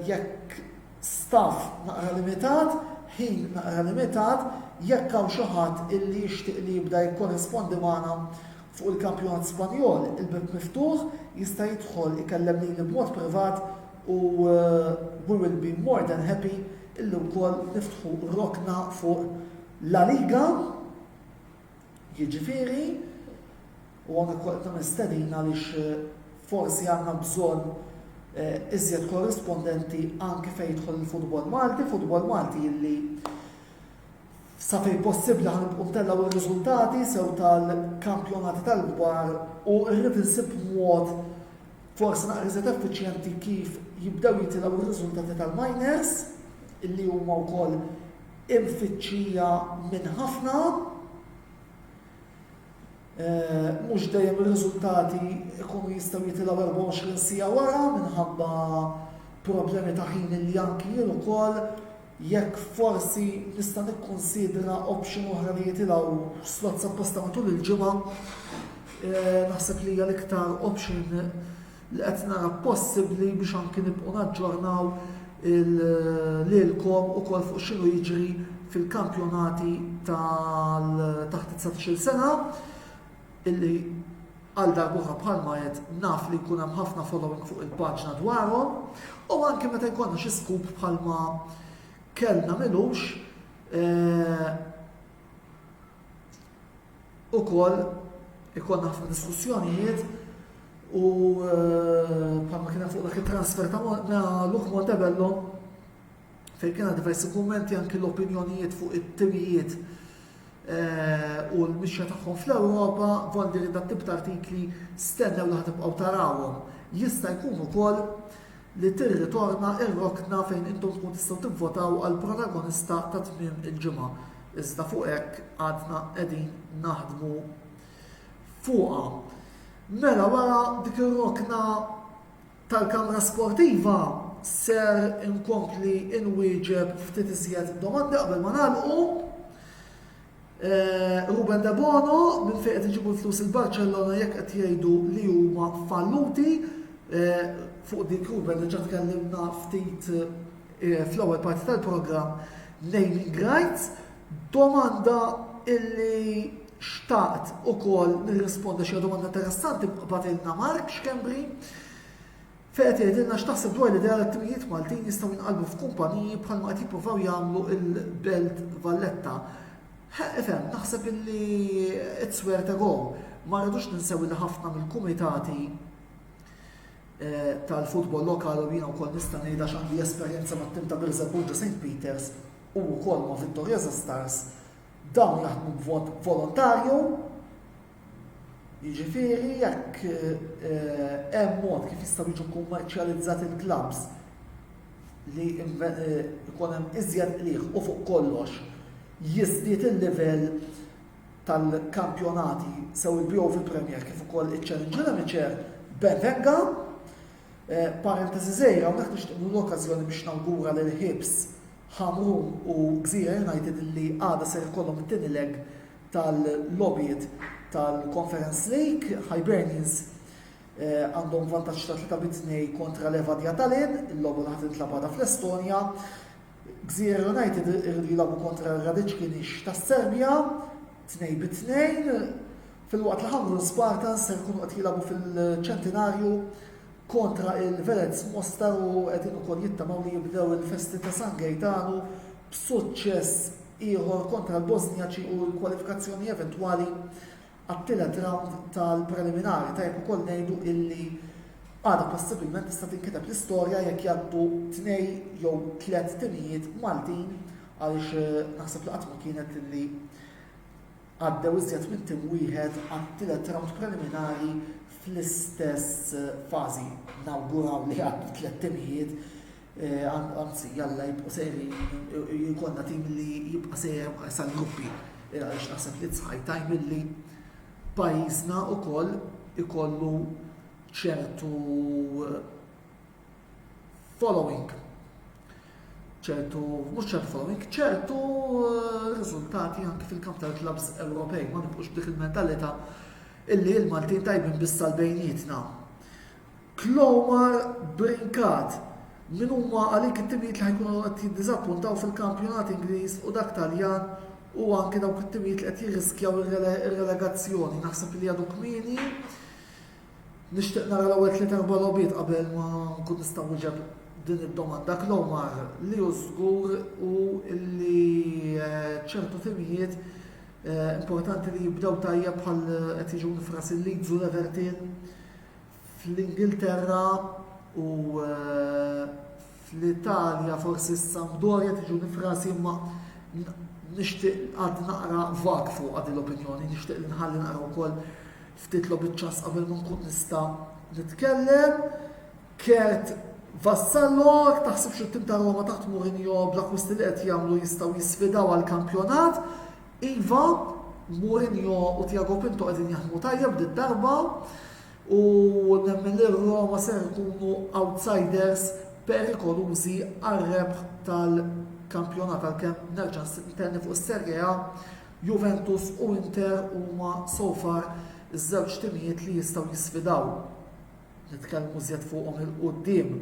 jekk staff naqra limitat, ħin naqra limitat, jekk hawn xi ħadd illi jixtieq li jibda jikkorrespondi magħna fuq il-kampjonat Spanjol, il-bieb miftuħ, jista' jidħol ikellem lili b'mod privat u we will be more than happy illi wkoll niftħu rokna fuq La Liga, jiġifieri u anke kolta mistedin għaliex eh, forsi għandna bżonn eh, iżjed korrispondenti anke fejn jidħol il-futbol Malti, futbol Malti illi Sa fejn possibbli ħa nibqgħu ntellgħu r-riżultati sew tal-kampjonati tal-kbar u rrid insib mod forsi naqra iżjed effiċjenti kif jibdew jitilgħu r-riżultati tal-minors illi huma wkoll imfittxija minn ħafna eh, mhux dejjem ir-riżultati jkunu jistgħu jitilgħu 24 sija wara minħabba problemi ta' ħin li anki jien ukoll Jekk forsi nista' nikkunsidra option oħra li jitilgħu slots apposta matul il-ġimgħa, naħseb li hija l-iktar option li qed nara possibbli biex anki nibqgħu naġġornaw lilkom ukoll fuq x'inhu jiġri fil-kampjonati tal taħt 19-il sena. illi għal darb'oħra bħalma għedt naf li jkun hemm ħafna following fuq il-paġna dwarhom u anke meta jkollna xi scoop bħalma kellna milux eh, ukoll ikollna ħafna diskussjonijiet u eh, bħalma kien fuq dak it-transfer ta' Luke Montebello fejn kien hemm diversi kummenti anki l-opinjonijiet fuq it-timijiet u l-mixja tagħhom fl-Ewropa, Vondi li dat-tip ta' artikli stennew li ħatibqgħu tarawhom. Jista' jkun ukoll li tirritorna r-rokna fejn intom tkun tistgħu tivvotaw għall-protagonista ta' tmiem il-ġimgħa. Iżda fuq hekk għadna qegħdin naħdmu fuqha. Mela wara dik ir-rokna tal-Kamra Sportiva ser inkompli inwieġeb ftit iżjed domandi qabel ma nagħlqu. Eh, Ruben De Bono, minn fejn qed iġibu l-flus il-Barcellona jekk qed jgħidu li huma falluti eh, fuq dik Ruben diġà tkellimna ftit eh, fl-ewwel parti tal-programm naming rights Domanda illi xtaqt ukoll nirrispondi għax hija domanda interessanti bagħtilna Mark Schembri fejn qed jgħidilna x'taħseb dwar l-idea li t-timijiet Maltin jistgħu jinqalbu f'kumpaniji bħalma qed jippruvaw jagħmlu l-Belt Valletta. Ħa ifhem, naħseb illi it's where to go. Ma rridux ninsew li ħafna mill-kumitati eh, tal-futbol lokali u jiena wkoll nista' ngħidha x'għandi esperjenza mat-tim ta' Birżebbuġa St. Peters u wkoll ma' Vittoriosa Stars, dawn jaħdmu b'mod volontarju, jiġifieri jekk hemm mod kif jistgħu jiġu kkummerċjalizzati l-klabbs li jkun hemm iżjed qligħ u fuq kollox jiżdied il-livell tal-kampjonati sew il-BOF Premier kif ukoll iċ-Challenge Limiċer, ben venga. Parentesi żgħira hawnhekk nixtieq nieħu l-okkażjoni biex nawgura lil Hibs, Ħamrun u Gżira United li għada ser ikollhom it-tieni leg tal-logħbiet tal-Conference League. Hibernians eh, għandhom vantaġġ ta' 3 bit kontra Levadia Tallinn, il-logħba li ħadd intlab għada fl-Estonja. Gżira United irridu jilagħbu kontra r-Radic Kinix tas-Serbja, tnejn bi tnejn, filwaqt li Hamrun Spartans se jkunu qed jilagħbu fil-Ċentinarju kontra il-Velez Mostar u qegħdin ukoll jittamaw li jibdew il-festi ta' San Gejtanu b'suċċess ieħor kontra l-Bosnjaċi u l-kwalifikazzjoni eventwali għat-tielet rawnd tal-preliminari. Tajjeb ukoll ngħidu illi għada possibilment tista' tinkiteb l-istorja jekk jgħaddu tnej jew tliet timijiet Maltin għaliex eh, naħseb li qatt ma kienet illi għaddew iżjed minn tim wieħed għat-tielet rawnd preliminari fl-istess eh, fażi nawguraw li għaddu tliet timijiet Anzi, jalla jibqgħu sejrin jkollna tim li jibqa' sejjer sal-gruppi. Għaliex naħseb li tsħaj tajm li pajjiżna wkoll ikollu ċertu eh, following ċertu, mhux ċertu following, ċertu eh, riżultati anke fil-kamp tal-klabs Ewropej, ma nibqux dik il-mentalità illi l-Maltin tajbin bis-salbejnietna. Clomar Brincat, Min huma għalik it-timijiet li ħa jkunu qed jiddiżappuntaw fil-kampjonat Ingliż u dak Taljan u anke dawk it-timijiet li qed jirriskjaw ir-relegazzjoni? Naħseb li għadu kmieni. Nixtieq nara l-ewwel tliet erba' logħbiet qabel ma nkun nista' wieġeb din id-domanda. Clomar, li hu żgur u li eh, ċertu timijiet eh, importanti li jibdew tajjeb bħal qed jiġu nifras il-Leeds u l-Everton Fl-Ingilterra u fl-Italja forsi s-Sampdoria tiġu nifrasi imma nixtieq għad naqra vak fuq għad l-opinjoni, nixtieq li nħalli naqra wkoll ftit lobiċċas qabel ma nkun nista' nitkellem. Kert Vassallo, taħsibx it-tim ta' Roma taħt Mourinho bl-akwisti li qed jagħmlu jistgħu jisfidaw għal kampjonat. Iva, Mourinho u Tiago Pinto qegħdin jaħdmu tajjeb darba u nemmen li r-Roma ser ikunu outsiders perikolużi għar-rebħ tal-kampjonat għalkemm nerġa' ntenni fuq is-Serie A, Juventus u Inter huma so far iż-żewġ timijiet li jistgħu jisfidaw. Nitkellmu iżjed fuqhom 'il quddiem.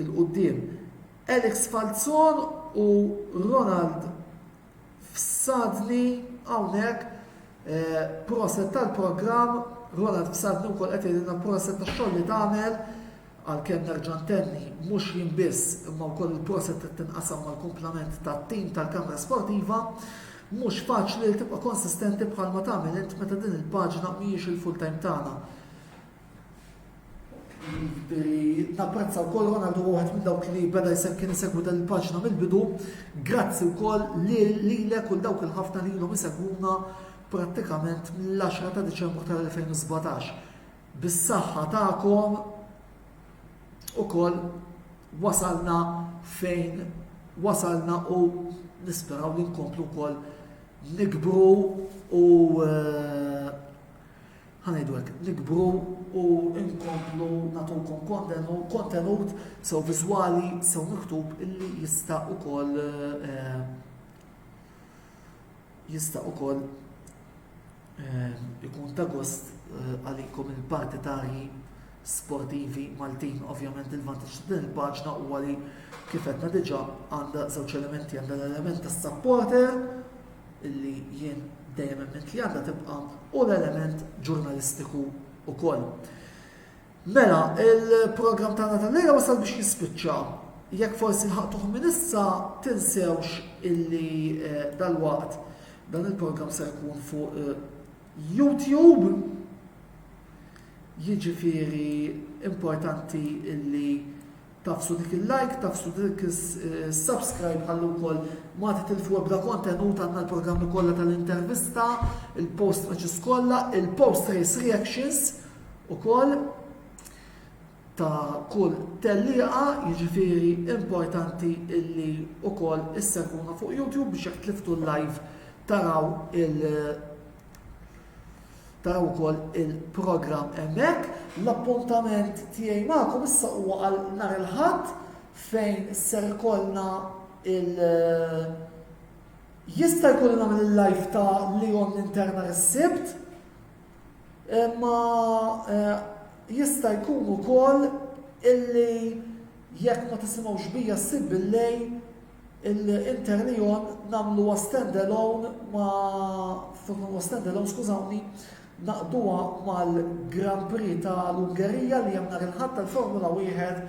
Il quddiem. Alex Falzon u Ronald Fsadni hawnhekk proset tal-programm, Ronald Fsadni wkoll qed jgħidilna proset tax-xogħol li tagħmel, għalkemm nerġa' ntenni mhux jien biss imma wkoll il-proset qed tinqasam mal-kumplament tat-tim tal-Kamra Sportiva. Mhux faċli li tibqa' konsistenti bħalma tagħmel int meta din il-paġna mhijiex il-full-time tagħna. Napprezza wkoll għana għandu għuħet minn dawk li beda jisem kien jisegwu dan il-paġna mill-bidu. Grazzi wkoll li lilek u dawk il-ħafna li l-lum jisegwuna prattikament mill-10 ta' Deċembru tal-2017. Bis-saħħa tagħkom ukoll wasalna fejn wasalna u nisperaw li nkomplu wkoll nikbru u eh, ħa ngħidu hekk, nikbru u nkomplu nagħtukom kontenut, kontenut sew viżwali, sew miktub illi jista' ukoll eh, jista' ukoll eh, ikun ta' gost eh, għalikom il-partitarji sportivi Maltin. Ovvjament il-vantaġġ ta' din il-paġna huwa li kif qedna diġà għandha żewġ elementi għandha l-element tas-supporter illi jien dejjem emmint li għandha tibqa' hu l-element ġurnalistiku wkoll. Mela, il-programm tagħna tal-lejla wasal biex jispiċċa. Jekk forsi lħaqtuh minn issa tinsewx illi eh, dal-waqt dan il-programm se jkun fuq eh, YouTube. Jiġifieri importanti illi Tafsu dik il-like, tafsu dik is-subscribe ħalli wkoll ma titilfu ebda kontenut għandna l-programmi kollha tal-intervista, il-post matches kollha, il-post race reactions ukoll ta' kull tellieqa jiġifieri importanti illi wkoll issegwuna fuq YouTube biex jekk tliftu l-live taraw il- Taraw ukoll il-programm hemmhekk. L-appuntament tiegħi magħkom issa huwa għal nhar il-Ħadd fejn ser ikollna il- Jista' jkun li nagħmel il-live ta' Leon Interna is-Sibt, imma eh, jista' jkun ukoll illi jekk ma tisimgħux bija ssib bil-lejl Il-Interneon nagħmluha stand-alone ma' flok nagħmluha stand-alone, skużawni, naqduha mal-Grand Prix ta' l-Ungerija li hemm nhar il-Ħadd tal-Formula Wieħed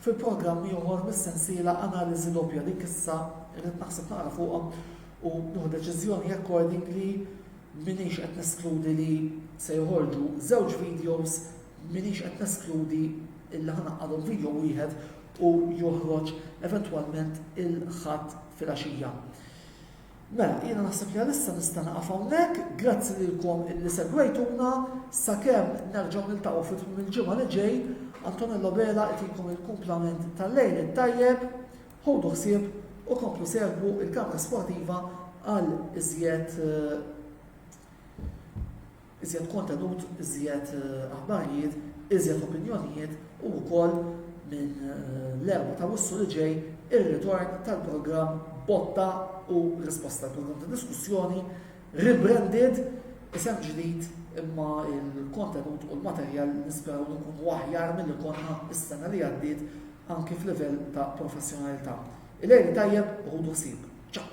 fil-programm ieħor mis-sensiela Analiżi Doppja li issa rrid naħseb naqra fuqha u nieħu deċiżjoni accordingly m'iniex qed neskludi li se joħorġu żewġ videos m'iniex qed neskludi illi ħanaqqadhom video wieħed u joħroġ eventwalment il-Ħadd filgħaxija. Mela, jiena naħseb li għalissa nista' naqaf hawnhekk, grazzi lilkom illi segwejtuna, sakemm nerġgħu niltaqgħu fit tmim il-ġimgħa li ġej, Antonello Bela itilkom il-kumplament tal-lejl it-tajjeb, ħodu ħsieb u komplu segwu il-kamra sportiva għal iżjed eh, Iżjed kontenut, iżjed aħbarijiet, iżjed opinjonijiet u wkoll minn l-erbgħa ta' Wissu li ġej ir-ritorn tal-programm Botta u Risposta, il-programm ta' diskussjoni rebranded, isem ġdid imma l-kontenut u l-materjal nisperaw li nkunu aħjar milli konna s-sena li għaddiet anki f'livell ta' professjonalità. Il-Għid it-Tajjeb u ħudu ħsieb. Ċaw!